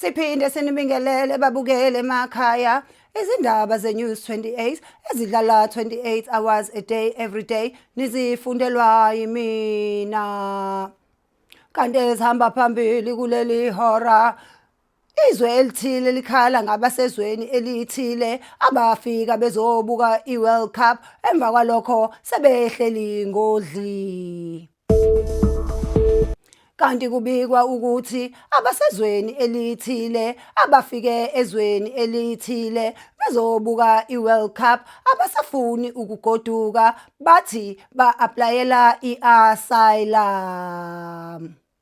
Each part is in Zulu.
Siphinde sinibingelele babukele emakhaya izindaba zeNews 28 ezidlala 28 hours a day every day nizifundelwa yimina. Kanti ezihamba phambili kuleli hora Izwe elithile likhala ngabasezweni elithile abafika bezobuka iWorld Cup emva kwalokho sebehleli ngodli. Kanti kubikwa ukuthi abasezweni elithile abafike ezweni elithile bezobuka iWorld Cup abasafuni ukugoduka bathi ba-aplayela i-asylum.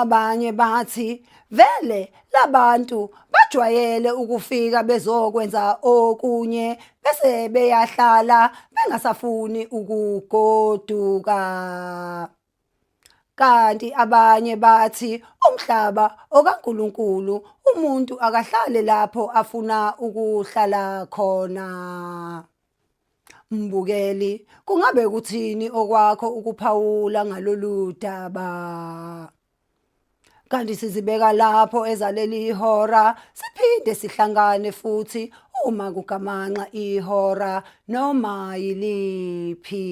Abanye bathi vele labantu bajwayele ukufika bezokwenza okunye bese beyahlala bengasafuni ukugoduka. Kanti abanye bathi umhlaba okaNkulunkulu umuntu akahlale lapho afuna ukuhlala khona. Mbukeli, kungabe kuthini okwakho ukuphawula ngalolu daba? Kanti sizibeka lapho ezaleli ihora siphinde sihlangane futhi uma kugamanxa ihora noma yiliphi.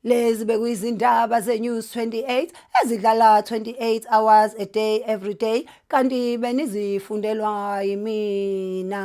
Lezi bekuyizindaba zeNews 28 ezidlala 28 hours a day every day kanti benizifundelwa yimina.